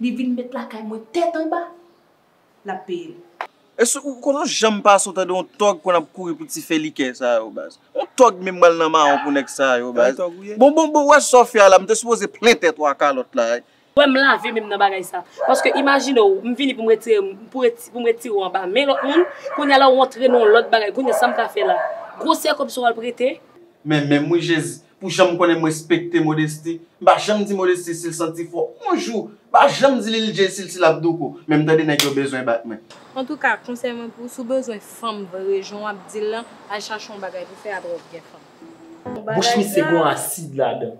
Li vin met lakay mwen tèt anba, lap peye l. Eske ou konn yon janm pase ou tande yon tòg konn ap kouri pou ti fè likè sa yo baz. Yon tòg menm bal nan mawon pou nèg sa yo baz. Bon bon bon ou wè sa w fè a la m te sipoze plen tèt ou a kalòt la. Ou wè m lave men m nan bagay sa. Paske imajine w m vini pou m retire m pou m retire w anba men lòt moun kounye a la ou antre nan yon lòt bagay kounye a sa m ka fè la. Gwosè kòb sa w al prete. Men men m wi jezi. Pou janm konnen m respekte Modesti, m pa janm di Modesti si l santi fò on jou, m pa janm di Lil Jay si l ti lap douko, men m tande nèg yo bezwen bat mwen. Antouka, konsèy mwen pou ou, si w bezwen fanm vre jan w ap di l lan, al chache on bagay pou fè aprè w gen fanm. Bouch misye gon asid ladan.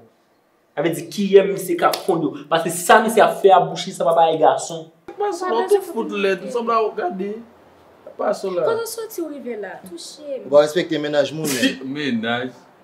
Sa vle di kiyè misye ka fonn yo. Paske sa misye ap fè a bouch li sanba bagay gason. Paso la tou fout lèd, ou sanble ou gade paso la. Kote w soti w rive la? Touche m. Ou pa respekte mennaj moun menm. Mennaj.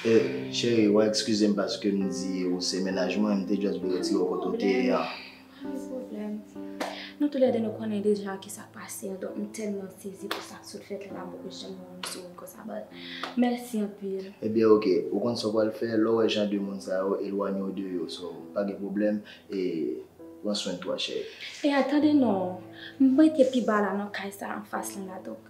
Eh chérie wa exkizem paske m di ou se mennaj mwen, m te just vle retire w kote w te ye an. Pa gen pwoblèm. Nou tou lè de nou konnen deja ki sa k pase an donk m tèlman sezi pou sa k sot fèt la m poko janm wè w m sou wout konsa but mèsi anpil. Ebyen ok, ou konn sa w pral fè, lè w wè jan de moun sa yo elwanye w de yo so pa gen pwoblèm e pran swen twa chérie. Eh tande non, m rete pi ba la nan kay sa anfas lan la donk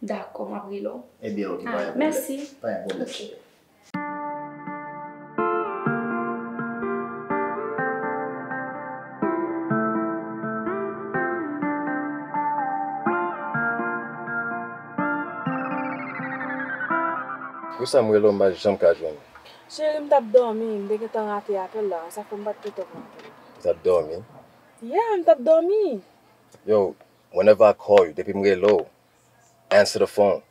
Dakò, m ap rele w. Ebyen ok, pa gen pwoblèm. Pa gen pwoblèm. Pou sa m rele w m pa janm ka jwenn ou. Cheri, m t ap dòmi. M te gentan rate apèl la an. Sa k fè m pa t gentan pran apèl la. Ou t ap dòmi? Yeah, m t ap dòmi. Yow, Whenever I call you, depi m rele w, answer the phone.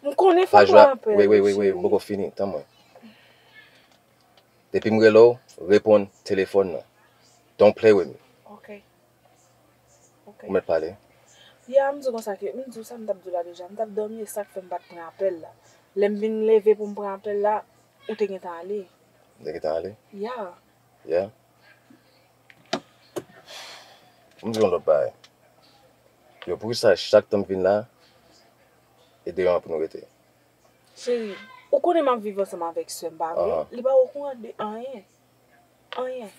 M konnen fò m rapèl ou, cheri. Wait, wait, wait, m poko fini, tann mwen. Depi m rele w, reponn telefòn nan. Don't play with me. Ok. Ok. Ou mèt pale. Yeah, m di w konsa ke, m di w sa m t ap di w la deja. M t ap dòmi, e sa k fè m pa t pran apèl la. Lè m vin leve pou m pran apèl la, ou te gentan ale. M te gentan ale? Yeah. Yeah? M di yon lòt bagay, yo pou kisa chak tan m vin la e deyò an pou nou rete? Cheri, ou konnen m ap viv ansanm avèk sè m pa vre? Li pa okouran de anyen. Anyen.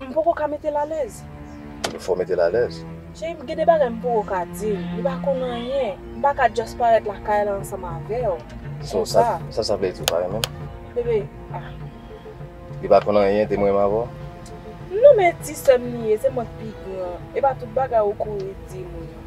M poko ka mete l alèz. Ou fè w mete l alèz. Cheri m gen de bagay m poko ka di l. Li pa konn anyen. M pa ka just parèt lakay la ansanm avè w. So sa sa vle di ou pa renmen m? Bebe, ah. Li pa konn anyen de m renmen avè w? Non men ti sè m li ye, se mwen k pi gran. E pa tout bagay ou kouri di moun.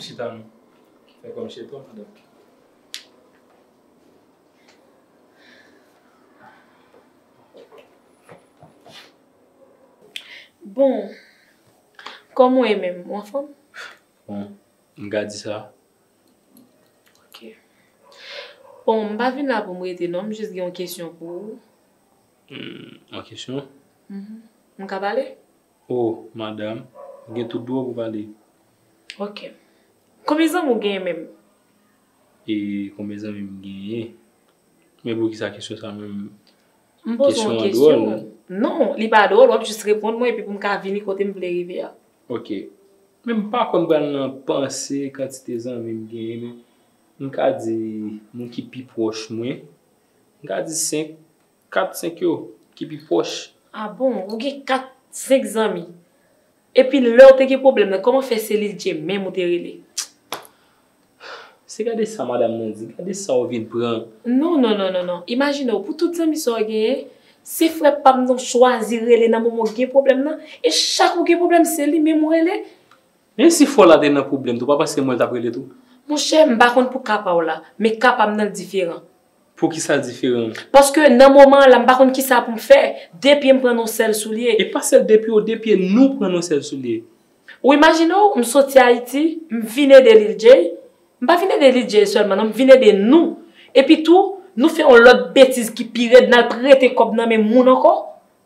Chita nou. Fè kòm cheton madanm. Bon. Kòm ou ye menm? Ou anfòm? Bon. M ka di sa. Ok. Bon, m pa vin la pou m rete non. M jis gen yon kesyon pou ou. Yon kesyon? Mh. M ka pale? Oh madame ou gen tout dwa pou pale. Ok. Konbyen zanmi ou genyen menm? E konbyen zanmi m genyen? Men poukisa kesyon sa menm? M poze yon kesyon. Non, li pa dwòl, wap jis reponn mwen epi pou m ka vini kote m vle rive a. Ok. Men m pa konn pral nan panse kantite zanmi m genyen men m ka di moun ki pi pwòch mwen, m ka di 5. Kat senk yo ki pi pwòch. A bon, ou gen kat senk zanmi. Epi lè ou te gen pwoblèm nan, kòman fè se Liljee menm ou te rele? Se gade sa madam nan di, gade sa ou vin pran. Non, non, non, non, non. Imajine ou, pou tout zanmi sa ou genyen, se frè pa m nan ou chwazi rele nan moman ou gen pwoblèm nan. E chak ou gen pwoblèm, se li menm ou rele. Men si fò la te nan pwoblèm tou, ou pa panse se mwen l t ap rele tou? Monchè, m pa konn pou ka pa ou la, men ka pa m nan l diferan. Poukisa l diferan? Paske nan moman an la m pa konn kisa pou m fè. De pye m pran nan yon sèl soulye. E pa sèl de pye w, de pye nou pran nan yon sèl soulye. Ou imajine w, m soti Ayiti, m vin ede Lil Jay, m pa vin ede Lil Jay sèlman non, m vin ede nou. Epitou, nou fè yon lòt betiz ki pi rèd, n al prete kòb nan men moun ankò.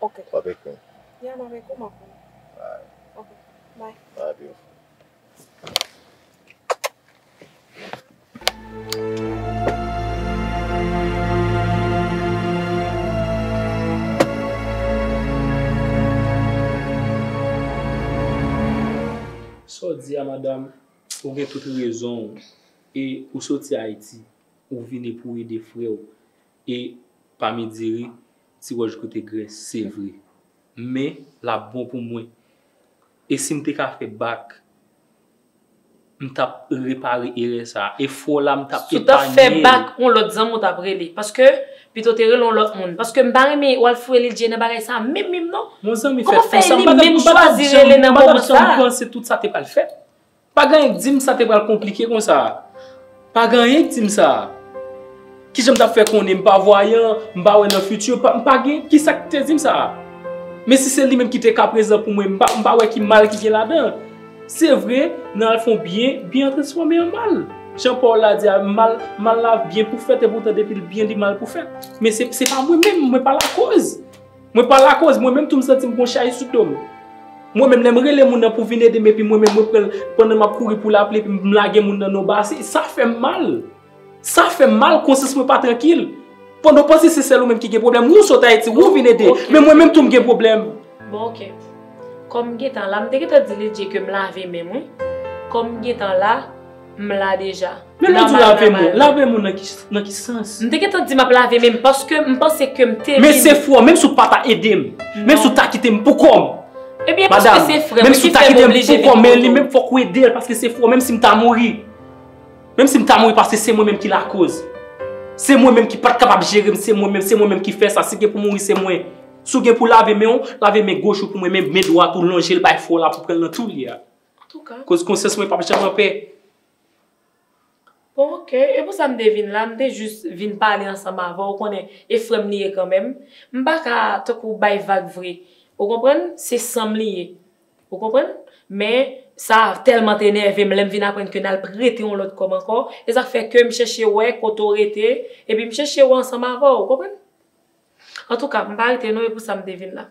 Ok. Wap ek mwen? Yeah map ek ou map wè. Alright. Ok bye. Bye beautiful. Sa w di a madam, ou gen tout rezon w e ou soti Ayiti ou vini pou w ede frè w. E pami diri, ti wòch goute grès, se vre. Men, l ap bon pou mwen. E si m te ka fè bak, m t ap repare erè sa a. Efò la, m t ap epanye l. Si w t ap fè bak, yon lòt zanmi w t ap rele. Paske, pito w te rele yon lòt moun. Paske m pa renmen w al fouye li dje nan bagay sa a menm menm non. Kòman fè li menm chwazi rele nan moman sa a? Bon zanmi fè tout sa. M pa t ap janm panse tout sa te pral fèt. Pa gen anyen k di m sa te pral konplike konsa a. Pa gen anyen k di m sa. Ki jan m t ap fè konnen? M pa vwayan, m pa wè nan fiti. M pa gen. Ki sa k te di m sa? Men si se li menm ki te ka prezan pou mwen, m pa wè ki mal ki gen ladan. Se vre, nan al fè yon byen, byen an transfòme an mal. Jan pawòl la di a, mal, mal la byen pou fèt, epoutan depi l byen li mal pou fèt. Men se pa mwen menm, mwen pa lakòz. Mwen pa lakoz, mwen menm tou m santi m gon chay sou do m. Mwen menm lè m rele moun nan pou vin ede m epi mwen menm mwen pran pandan m ap kouri pou lapli epi m lage moun nan nan yon basen, sa fè m mal. Sa fè m mal, konsyans mwen pa trankil. Pandan w panse se sèl ou menm ki gen pwoblèm, ou sot Ayiti, ou vin ede, men mwen menm tou m gen pwoblèm. Bon ok. Kòm m gen tan la, m te gen tan di Lidye ke m lave men m wi. Kòm m gen tan la. M la deja. Men lè w di lave men w, lave men w nan ki sans? M te gentan di m ap lave men m paske m panse ke m te vin. Men se fwè w, menm si w pa ta ede m, menm si w ta kite m pou kò m. Ebyen paske se frè m, ki fè m oblije vin pou kò w. Madam, menm si w ta kite m pou kò m, men li menm fòk ou ede l paske se fwè w menm si m ta mouri. Menm si m ta mouri paske se mwen menm ki lakoz. Se mwen menm ki pa t kapab jere m, se mwen menm, se mwen menm ki fè sa. Si gen pou mouri se mwen. Si w gen pou lave men w, lave men goch ou pou mwen men dwat ou lonje l bay frè w la pou pran l nan tou li a. Antouka. Koz konsyans mwen pap janm anpè. Bon ok, e pou sa m te vin la, m te jis vin pale ansanm avè w, ou konnen, e frè m li ye kanmenm. M pa ka, tankou, bay vag vre. Ou konprann? Se san m li ye. Ou konprann? Men, sa tèlman te nève m lè m vin aprann ke n al prete yon lòt kòb ankò, e sa k fè ke m chèche wè kote w rete, epi m chèche wè ansanm avè w, ou konprann? Antouka, m pa rete non, e pou sa m te vin la.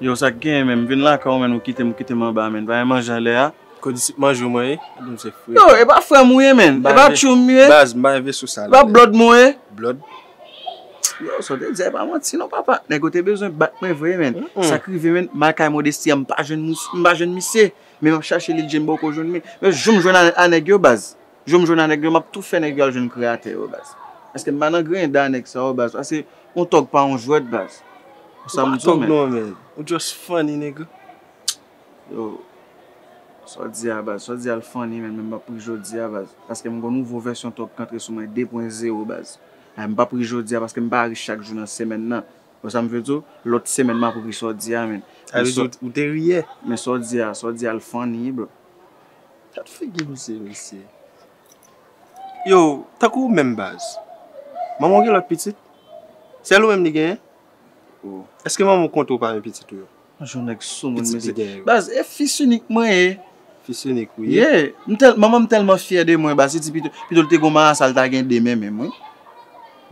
Yow sak genyen menm m vin lakay w menn ou kitem ou kitem anba menn bagay manje anlè a. Kondisip manje w mwen ye epi m se frè. Yow epa frèm ou ye menn epa tchoum m ye. Baz m bay veso sal. Epa blòd m ou ye. Blòd. Yow sa w te di a epa manti non papa nèg yo te bezwen bat mwen vre menn sak rive menn m al kay modesty an m pa jwenn misye menm ap chache li l je m boko jwenn li. Menm jou m jwenn a nèg yo baz. Jou m jwenn a nèg yo map tou fè nèg yo al jwenn kreyatè yo baz paske m pa nan grenda nèg sa yo baz pase yon tòg pa yon jwèt baz ou sa m di w men. Ou just funny nigga. Yo Sa w di a baz Sa w di a l funny menn men m pap ri jodi a baz paske m gon nouvo vèsyon tòg k antre sou mwen 2 pwen zewo baz men m pap ri jodi a paske m pa ri chak jou nan semèn nan ou sa m vle di w lòt semèn map ri sa w di a menn Sa vle di ou te ri yè men sa w di a sa w di a l funny bro. Gad figi misye mesye. Yo, tankou ou menm baz. Manman w gen lòt pitit? Sèl ou menm li genyen? Oh. Èske manman w konte w pami pitit ou yo? An jan w nèg soumoun mesye. Pitit li genyen yo. Baz, e fis inik mwen ye. Fis inik ou ye? Ye. M tèl, manman m tèlman fyè de mwen baz, li di pito, pito l te gon marasa l ta gen de men menm wi.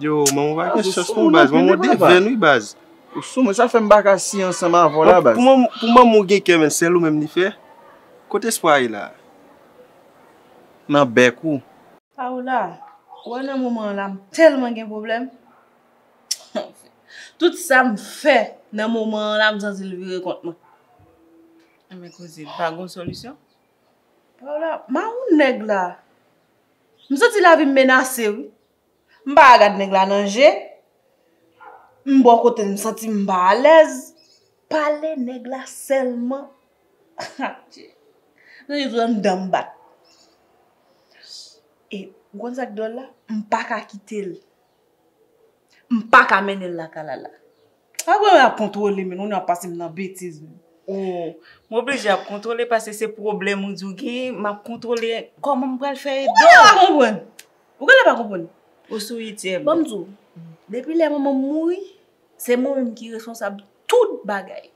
Yo, manman w pa gen chans non baz, manman w devèn wi baz. Ou soumoun, sa fè m pa ka si ansanm avè w la baz. Pou manman w gen kè menm, sèl ou menm li fè? Kot espwa a ye la? Nan bèk ou. Paola, ou wè nan moman an la m tèlman gen pwoblèm. Anfen, tout sa m fè nan moman an la m santi l vire kont mwen. Enben koze m, pa gen yon solisyon? Paola, mawoun nèg la! M santi lavi m menase wi. M pa ka gad nèg la nan je, m bò kote l m santi m pa alèz. Pale nèg la sèlman. Ha Dye! Nan je zòn dan m bat. E ou konn sa k dòl la? M pa ka kite l. M pa ka mennen l lakay Lala. Apre yap kontrole menn, ou nan pase m nan betiz menn. Oh, m oblije ap kontrole pase se pwoblèm ou di w gen, m ap kontrole kòman m pral fè ede w. Ou genlè pa konprann. Ou genlè pa konprann. Ou sou ityèm. Bon m di w, depi lè manman m mouri, se mwen menm ki responsab tout bagay.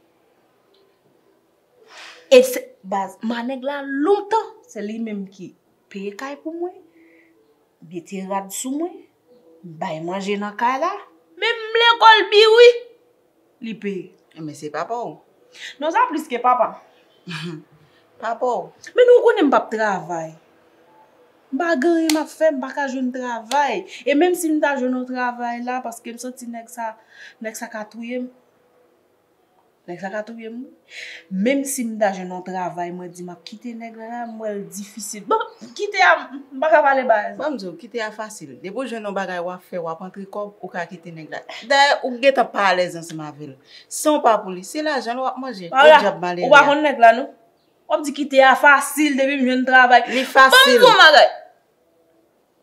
E se, baz, manèg la lontan, se li menm ki peye kay pou mwen, mete rad sou mwen, Bay manje nan kay la. Men m vle kolbi wi. Li pe. Men se papa w. Non sa plis ke papa m. Papa w. Men nou konnen m pap travay. M pa gen anyen m ap fè m pa ka jwenn travay. E menm si m ta jwenn yon travay la paske m santi nèg sa ka touye m. Nèg sa ka touyem wi. Menm si m ta jwenn yon travay mwen di map kite nèg la la m wèl difisil. Bon kite a m paka pale baz. Banm diw kite a fasil. Depi w jwenn yon bagay wap fè wap antre kòb ou ka kite nèg la. Dayè ou k gentan pa alèz ansanm avèl. San w pa pou li se lajan l wap manje. Podyab malere a. Ou pa konn nèg la non. Wap di kite a fasil depi m jwenn travay. Li fasil. Banm di w yon bagay.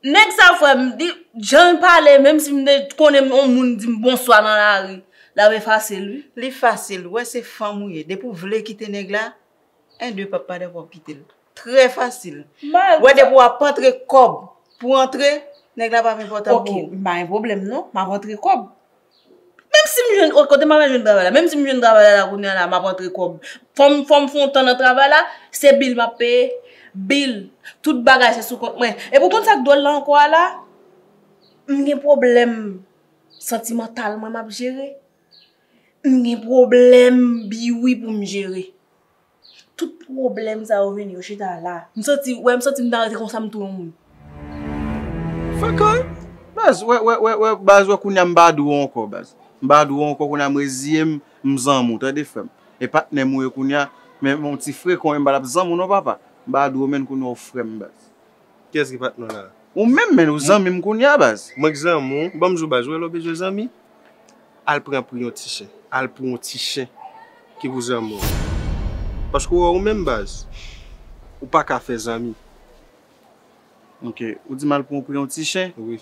Nèg sa frèm li janl pale menm si m te konnen on moun dim bonswa nan lari lap efase l wi. Li fasil ou wè se fanm ou ye depi ou vle kite nèg la 1 2 pap pa dakò kite l trè fasil ou wè depi wap antre kòb pou antre nèg la pap enpòtan pou ou. Ok m pa gen pwoblèm non map antre kòb Menm si m jwenn, ok kote m pral jwenn travay la, menm si m jwenn travay la la kounye a la m ap antre kòb, fò m fò m fon tan nan travay la, se bil m ap peye, bil, tout bagay se sou kont mwen. Epi ou konn sa k dwòl la ankò a la, m gen pwoblèm santimantal mwen m ap jere, m gen pwoblèm biwi pou m jere. Tout pwoblèm sa yo vini yo chita la. M santi, wè m santi m ta rete konsa m tou yon moun. Frekant! Baz, wè, wè, wè, wè, baz wè kounye a m pa dou ou ankò baz. M pa dou ou ankò kounye a m reziye m, m zanmi w tande frè m. E patnè m ou ye kounye a, men yon ti frekon e m pa t ap zanmi w non papa. M pa dou ou menn kounye a ou frè m baz. Kiyès ki patnè w la? Ou menm men, ou zanmi m kounye a baz. Mwen k zanmi w, banm jou baz, ou wè lè w bezwen zanmi, al pran pou yon ti chen, al pou yon ti chen ki pou zanmi w. Paske ou wè ou menm baz, ou pa ka fè zanmi. Ok, ou di m al pran pou yon ti chen? Wi.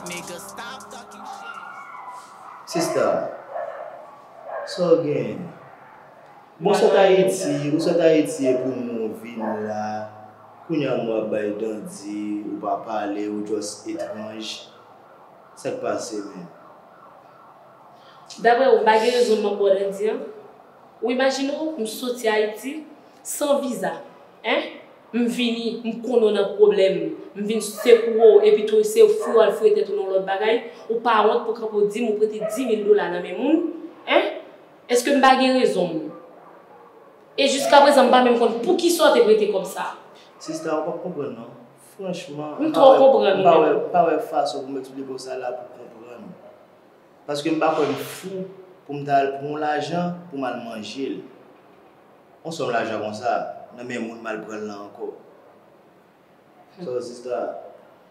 Sista, sa w genyen? Mwen sot Ayiti, ou sot Ayiti epi w moun vin la, kounye a moun ap bay dandi, ou pa pale, ou jòs etranj. Sa k pase menm? Daprè ou, m pa gen rezon m ap ba w dandi an? Ou imajine w m soti Ayiti san viza, hein? M vini, m konnen w nan pwoblèm. M vin sekouwe w epi tou ese w fou al fouye tèt ou nan yon lòt bagay. Ou pa wont pou kanpe w di m ou prete dimil dola nan men moun? Hein? Eske m pa gen rezon m? E jiskaprezan m pa menm konn poukisa w te prete kòb sa a? Sista, ou p ap konprann non. Franchman, m pa wè, m pa wè, m pa wè fason pou m eksplike w sa la pou w konprann. Paske m pa kwè m fou pou m ta al pran w lajan pou m al manje l. On sòm lajan konsa nan men moun mal pranl lan ankò Soeur sista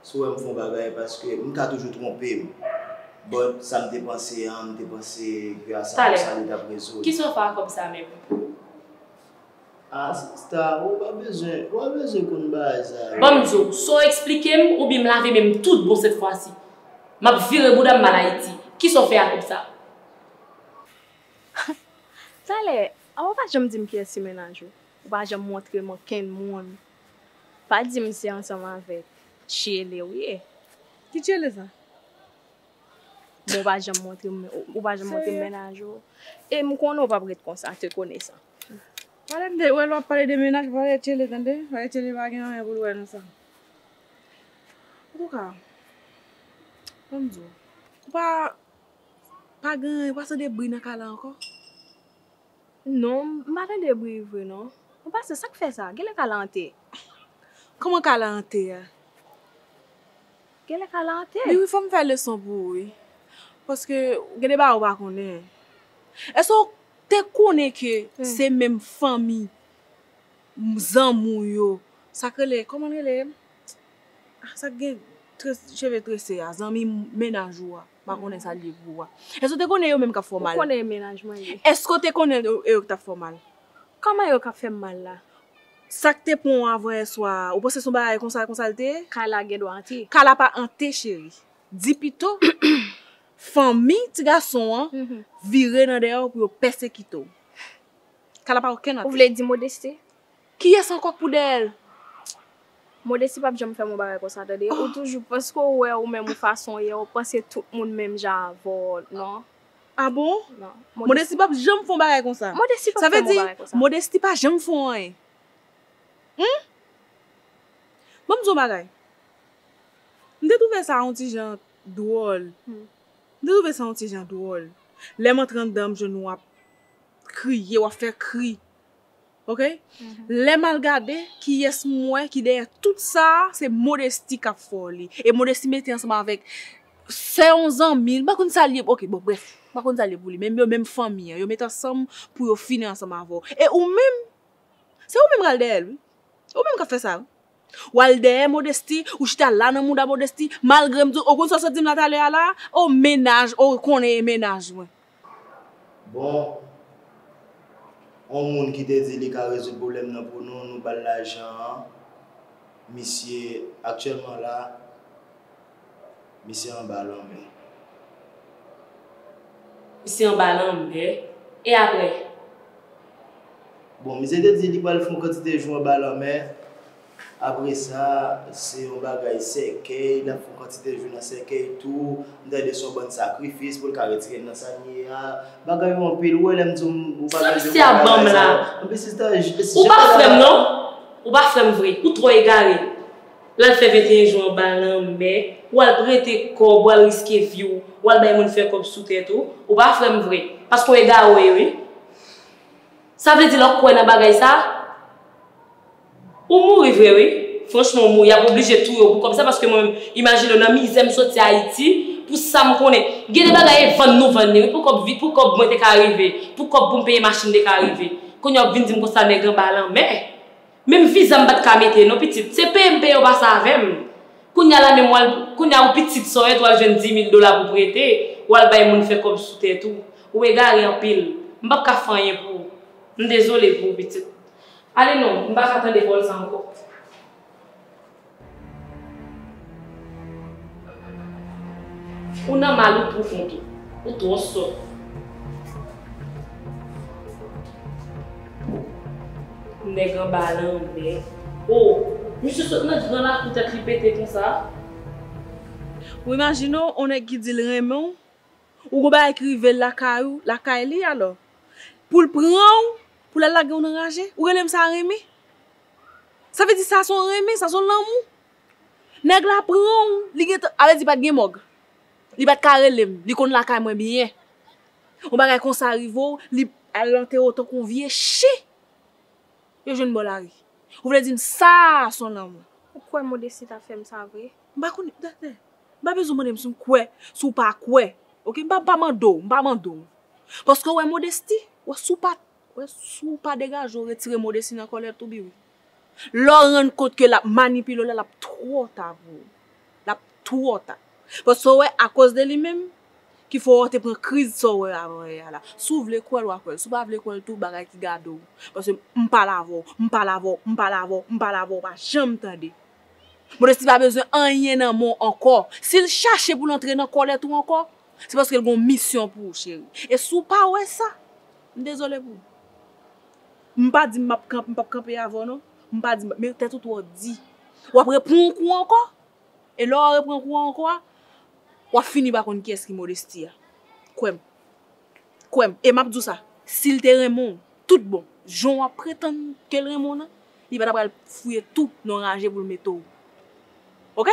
si w wèm fon bagay paske m ka toujou tronpem but sam te panse an m te panse ke a sa konsa li tap rezoud. Kisa w fè a kòb sa menm? Ah sista ou pa bezwen ou pa bezwen konn bagay sa yo. Banm di w sa w eksplikem oubyen m lave menm tout bon sèt fwa si Map vire bouda m mal ayiti kisa w fè a kòb sa? Talè Awa ou pa janm dim kiyès se mennaj ou, ou pa janm montrem ankenn moun, pa dim se ansanm avèk Tchiele ou ye. Ki Tchiele sa? Bon ou pa janm montrem ou pa janm montrem mennaj ou em konnen ou pap ret konsa te konesan. Pale tande, ou wè lè wap pale de mennaj pale de Tchiele tande, pale Tchiele pa gen anyen poul wè nan sa. Antouka, banm diw, ou pa pa gen anyen ou pa tande bri nan kay la ankò? Non, m pa tande bri vre non. Bon pastè, sa k fè sa? Genlè kay la ante. Kòman kay la ante a? Genlè kay la ante. Wi wi, fò m fè leson pou ou wi. Paske gen de bagay ou pa konnen. Èske ou te konnen ke se menm fanmi zanmi ou yo, sa k rele, kòman l rele? Sa k gen cheve trese a, zanmi mennaj ou a. M pa konnen sa l ye pou ou a. Èske w te konnen e yo menm k ap fè w mal? Ou konnen e mennaj mwen ye. Èske w te konnen e yo k t ap fè w mal? Kòman e yo k ap fè m mal la? Sa k te pran w avanyèswa a, ou panse se yon bagay konsa konsa l te ye? Kay la gen dwa ante. Kay la pa ante cheri. Di pito, fanmi ti gason an vire nan dèyè w pou yo pèsekite w. Kay la pa okenn ante. Ou vle di Modeste? Kiyès ankò k pou dèyè l? Modesti pap janm fè m yon bagay konsa tande. Ou toujou, paske ou wè ou menm yon fason w ye, ou panse tout moun menm jan avè w, non. A bon? Non. Modesti pap janm fè yon bagay konsa. Modesti pap fè m yon bagay konsa. Sa vle di, Modesti pa janm fè w anyen. Hum! Ban m di w yon bagay. M te twouve sa yon ti jan dwòl. Hum. M te twouve sa yon ti jan dwòl. Lè m antre anndan m jwenn ou ap kriye, w ap fè kri. ok lè mal gade kiyès m wè ki dèyè tout sa se modesty kap fè w li e modesty mete ansanm avèk sè yon zanmi m pa konn sa l ye ok bon brèf m pa konn sa l ye pou li men yo menm fanmi an yo met ansanm pou yo fini ansanm avè w e ou menm se ou menm kal dèyè l wi ou menm kap fè sa wi. Ou al dèyè Modesty, ou chita la nan mouda Modesty, malgrem di w, ou konn sa w sot di m la talè a la a? Oh mennaj, oh ou konnen e mennaj mwen. Bon, on moun ki te di li ka rezoud pwoblèm nan pou nou, nou ba l lajan an, misye aktyèlman la Misye anba lanmè. Misye anba lanmè. E apre? Bon, misye te di li pral fè yon kantite jou anba lanmè. Apre sa, se yon bagay sèkèy, l ap fè yon kantite jou nan sèkèy tou. M tande se yon bann sakrifis pou l ka retire l nan sa l ye a. Bagay yo anpil. Ou wè lè m di w m pa bèlje konn bagay sa yo. Sa misye ap ban m la? Anpi sista, jan m te di w. Ou pa frè m non. Ou pa frè m vre. Ou twò egare. Lal fè 21 jou anba lanmè, ou al prete kòb, ou al riske vi w, ou al bay moun fè kòb sou tèt ou, ou pa frè m vre, paske w egare w ye wi. Sa vle di lè w kwè nan bagay sa, ou mouri vre wi, franchman ou mouri, y ap oblije touye w pou kòb sa paske mwen menm, imajine w nan mizè m soti Ayiti, pou sa m konnen, gen de bagay e vann nou vann li wi pou kòb vi, pou kòb mwen te ka rive, pou kòb pou m peye machin m te ka rive, kounye a w ap vin di m konsa nèg anba lanmè. Menm viza m pat ka mete non pitit se peye m peye ou pase avèm kounya la menm wal kounya ou pitit sòyèt wal jwenn dimil dola pou prete wal bay moun fè kòb sou tèt ou ou egare anpil m pap ka fè anyen pou ou m dezole pou ou pitit ale non m paka tande vòl sa ankò. Ou nan mal ou pwofon tou. Ou twò sòt. Nèg anba lanmè. Oh! Misye sot nan gran lakou tèt li pete konsa. Ou imajine w on nèg ki di l renmen w, ou gon bagay ki rive l lakay ou, lakay li alò, pou l pran w, pou l al lage w nan raje? Ou rele m sa renmen? Sa vle di sa son renmen, sa son lanmou. Nèg la pranw, li gentan, a vle di pat gen mòg. Li pat ka relem, li konn lakay mwen byen. Yon bagay konsa rivew, li al anterew tankou yon vye chen yo jwenn bò lari. Ou vle dim sa son lanmou. Ou kwè Modesty ta fèm sa vre? M pa konnen, tande, m pa bezwenw mandem si m kwè, si w pa kwè. Ok, m pa, m pa mandew, m pa mandew. Paske ou wè Modesty, ou wè si w pa. Wè si w pa degaje w retire modesty nan kòlèt ou biwi. Lè w rann kont ke lap manipile w la lap twò ta pou ou. Lap twò ta. Paske ou wè akoz de li menm ki fè w te pran kriz sa w wè avan yè a la. Si w vle kwè l wa kwè l. Si w pa vle kwè l tou bagay ki gade w. Paske m pale avè w, m pale avè w, m pale avè w, m pale avè w ou pa janm tande. Modesty pa bezwen anyen nan men w ankò. Si l chache pou l antre nan kòlèt ou ankò, Se paske l gen yon misyon pou ou cheri. E si w pa wè sa, m dezole pou ou. M pa di m pa p kanpe avè w non. M pa di, men tèt ou twò di. W ap repran yon kou ankò. E lè w repran kou an ankò a, w ap fini pa konn kiyès ki Modesty a. Kwè m. Kwè m. E m ap di w sa, si l te renmen w tout bon, jan w ap pretann ke l renmen w lan, li pa ta pral fouye tou nan ranje pou l mete w. Ok?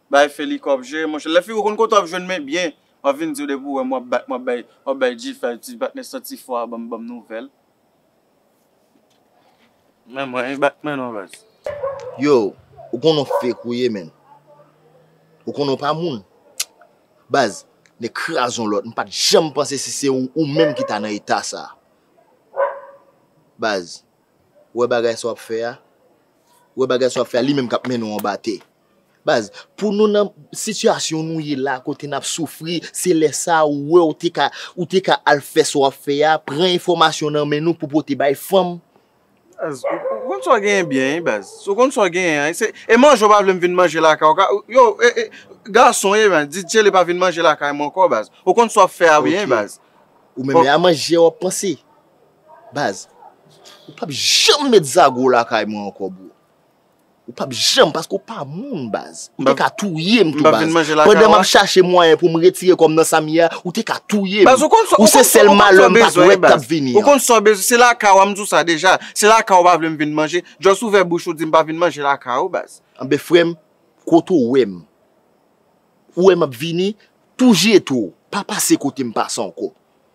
Bay feli kob je monche. Lè figo konn kote wap jwenn men byen wap vin diw depi ou wèm wap bat wap bay wap bay G fè ti bat men san ti fwa banm banm nouvèl. Men mwen e bat men non baz. Yow ou konnen w fake ou ye menn ou konnen w pa moun baz nèg kraze yon lòt m pat janm panse si se ou ou menm ki ta nan eta sa baz. Wè bagay sa wap fè a, wè bagay sa wap fè a li menm kap mennen w anba tè. Baz, pou nou nan sitiyasyon nou ye la kote nap soufri, se lè sa ou wè ou te ka, ou te ka al fè sa wap fè a, pran enfòmasyon nan men nou pou pote bay fanm. Baz, ou konn sa w genyen byen wi baz. Si w konn sa w genyen an, se, e manje ou pa vle m vin manje lakay ou ka, yo, e, e, gason w ye baz, di Dyelè pa vin manje lakay mwen ankò baz. Ou konn sa wap fè a byen baz. Ok, ou menm e a manje a wap panse? Baz, ou pap janm met zago lakay mwen ankò bro. Ou pap janm paske ou pa moun baz. Ou te ka touye m tou baz. Pandan m ap chache mwayen pou m retire kò m nan sa m ye a, ou te ka touye m. Ou se sèl malè m pat wè k tap vini an. Ou konn sa w bezwen. Se lakay ou a, m di w sa deja. Se lakay ou pa vle m vin manje. Just ouvè bouch ou di m pa vin manje lakay ou baz. Anben frè m, kote ou wè m. Ou wè m ap vini, tou jete w. Pa pase kote m pase ankò.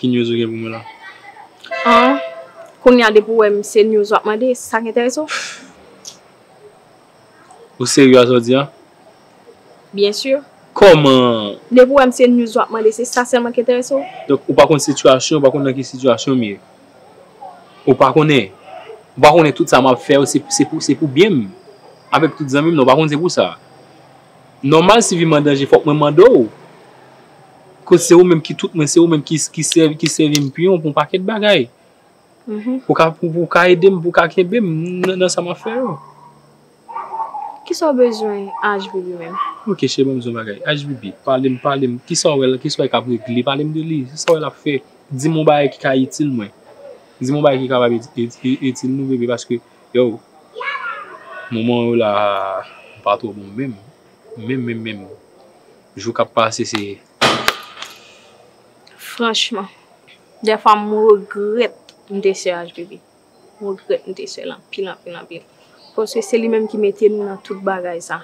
Ki news ou gen pou mwen la? An, kounye a depi w wè m se news w ap mande, se sa k enterese w? Ou serye a sa w di a? Byen sur. Kòman? Depi w wè m se news w ap mande, se sa sèlman k enterese w? Donk ou pa konn sitiyasyon, ou pa konn nan ki sitiyasyon m ye? Ou pa konnen? Ou pa konnen tout sa m ap fè yo se pou byen m? Avèk tout zanmi m nan, ou pa konn se pou sa? Nòmal si vi m an danje fòk mwen mande w koz se ou menm ki tout mwen, se ou menm ki sèvi m piyon pou yon pakèt bagay. Pou w ka ede m, pou w ka kenbe m nan sa m ap fè yo. Kisa w bezwen ashbibi menm? Ok cheri ban m di w yon bagay. Ashbibi, pale m, pale m, kisa w wè l, kisa w wè l k ap regle? Pale m de li, kisa w wè l ap fè? Di m yon bagay ki ka itil mwen. Di m yon bagay ki kapab itil nou bebe paske. Yow moman yo la pa two bon menm menm menm menm jou kap pase se. Franchman dèfwa m regrèt m te sè HBB m regrèt m te sè l anpil anpil anpil paske se li menm ki mete nou nan tout bagay sa.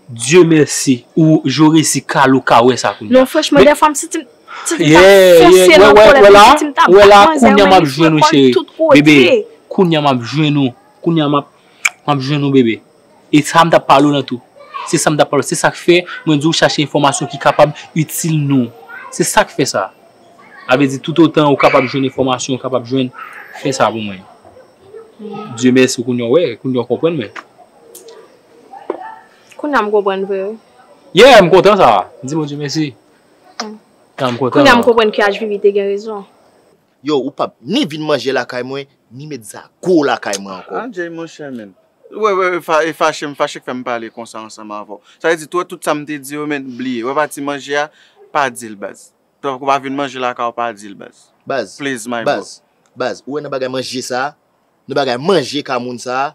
Dieu merci ou jo resi kal ou ka wè sa kounya. Non franchman dèfwa m santi m santi m ta fonse nan kòlèt m santi m ta bat manzè yo men li frekon l tout kote. Bebe kounya m ap jwenn ou kounya m ap jwenn ou bebe e sa m t ap pale w lan tou se sa m t ap pale w se sa k fè mwen di w chache enfòmasyon ki kapab itil nou se sa k fè sa sa vle di toutotan ou kapab jwenn enfòmasyon ou kapab jwenn fè sa pou mwen Dieu merci kounya w wè kounya w konprann mwen. Kounya m konprann vre wi. Yeah m kontan sa a. Di Bondye mesi. Tanm kontan. Kounya m konprann ki HBB te gen rezon. Yow ou pap ni vin manje lakay mwen ni met zago w lakay mwen anko. Ah Jay monchè menn. Wè wè e fache m fache k fè m pale konsa ansanm avè w. Sa vle di tou tout sa m te di yo menn bliye. Wè pati manje a pa di l baz. Tank ou pa vin manje lakay w pa di l baz. Baz please my bro. Baz baz ou wè nan bagay manje sa a nan bagay manje ka moun sa a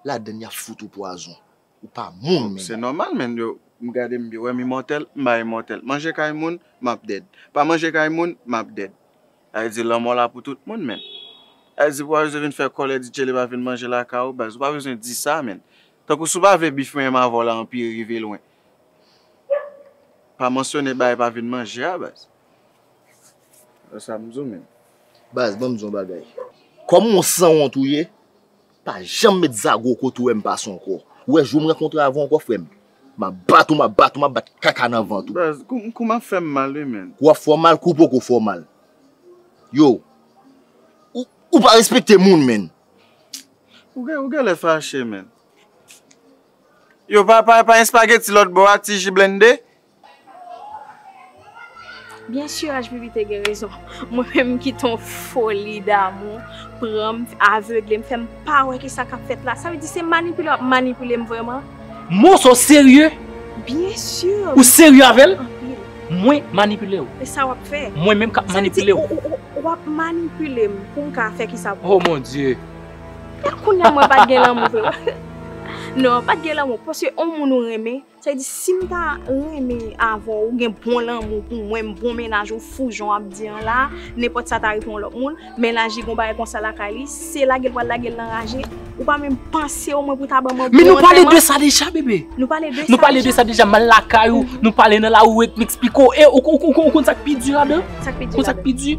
Ladann yap fout ou pwazon. Ou pa moun menm. Se nòmal menn yo m gade m wèm imòtèl m pa imòtèl. Manje kay moun map dead. Pa manje kay moun map dead. Sa vle di lanmò la pou tout moun menn. Sa vle di pou pa bezwen vin fè kòlè di tcheleba vin manje lakay ou baz. Ou pa bezwen di sa menn. Tankou si w pa vle bif mwen menm avè w la anpire rive lwen. Pa mansyone bay pa vin manje a baz. Sa m di w menn. Baz banm di w yon bagay. Kòm w yon sanwont ou ye. Pa janm met zago w kote w wè m pase ankò. Ou wè jou m rankontre avè w ankò frè m. M ap bat ou, m ap bat ou, m ap bat kaka nan vant ou. Baz, kou m ap fè m mal wi menn. Kou w ap fè w mal, kou w poko fè w mal. Yow, ou pa respekte moun menn. Ou gèlè fache menn. Yow, pa yon espageti lòt bò a, ti ji blennde? Byen sûr HBB te gen rezon. Mwen menm m kite yon foli damou pran m, avegle m, fè m pa wè ki sa k ap fèt la. Sa vle di se manipile w ap manipile m vrèman? Mons ou serye? Byen sûr! Ou serye avè l? Anpil. Mwen manipile w? E sa w ap fè? Mwen menm k ap manipile w? Sa vle di w ap manipile m pou m ka fè ki sa pou ou? Oh mon Dye! Kounye a mwen pa t gen lanmou vre. Non, pa t gen lanmou paske yon moun ou renmen. Sa vle di sim ta renmen avèw ou gen bon lanmou pou mwen m bon mennaj ou fou jan wap di an la nenpòt sa ta rive yon lòt moun mennaj li gon bagay konsa lakay li se lagel pral lagel nan raje ou pa menm panse omwen pou ta banm yon bon antèman. Men nou pale de sa deja bebe. Nou pale de sa deja. Nou pale de sa deja mal lakay ou nou pale nan lari ou et m eksplike w e ou konn sak pi di ladan? Sak pi di ladan? Ou konn sak pi di?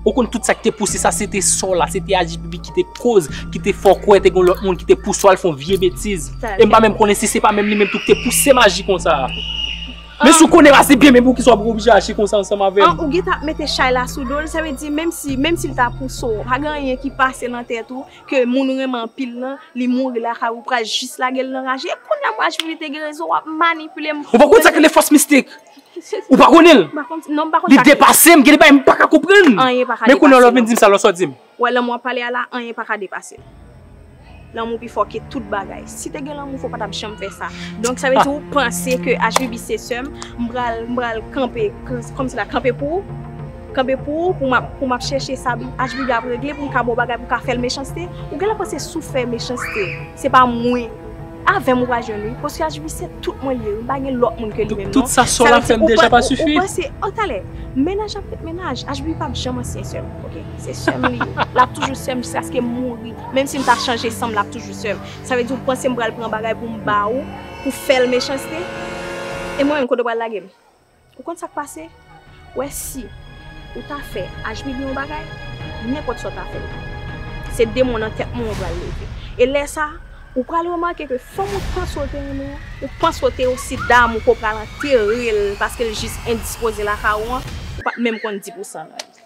Ou konn tout sak te pouse sa se te sò la se te aji pipi ki te Koz ki te fè w kwè te gen yon lòt moun ki te pouse w al fè yon vye betiz. E m pa menm konnen si se pa menm li menm tou ki te pouse m aji konsa a. Men si w konnen a se byen men poukisa w ap oblije aji konsa ansanm avè m? An, ou gentan ap mete chay la sou do l, sa vle di menm si, menm si l ta pouse w, pa gen anyen ki pase nan tèt ou ke moun ou renmen anpil lan, li mouri lakay ou, ou pral jis lage l nan raje. E kounye a m waj vini te gen rezon, w ap manipile m. Ou pa konn sa k rele fòs mistik? Ou pa konnen l? M pa konn, non m pa konn sa k rele. Li depase m, gen de bagay m pa ka konprann. Anyen pa ka depase w. Men kounye a w ap vin di m sa lò, sa w di m? Ou wè lanmou wap pale a la anyen pa ka depase l. Lanmou pi fò ke tout bagay. Si te gen lanmou fò w pa tap janm fè sa. Donk sa vle di ou panse ke Ashbibi se sè m, m pral m pral kanpe kòm si la kanpe pou ou, kanpe pou ou pou map pou map chèche sa Ashbibi ap regle pou m ka ba w bagay pou w ka fè l mechanste. Ou genlè panse si w fè mechanste se pa mwen. Avèm ou pa jwenn wi. Posyaj wi se tout mwen liye wi m pa gen lòt moun ke li menm non. Tout sa sola fèm deja pa sifi. Ou panse oh talè mennaj ap ret mennaj Ashby pap janm ansyen sèm ok se sèm li ye lap toujou sèm jiskaskem mouri menm sim ta chanje sanm lap toujou sèm sa vle di ou pansem pral pran bagay poum ba ou pou fèl mechanste e mwen menm kote ou pral lagem. Ou konn sak pase? Wè si ou ta fè ajbibi yon bagay, nenpòt sa ou ta fè li. Se demon nan tèt mwen ou pral leve. E lè sa, ou pral remake ke fanm ou panse ou te renmen an, ou panse ou te osi damou ke ou pral antere l paske l jis endispoze lakay ou an, ou pap menm konn di pou san nan li.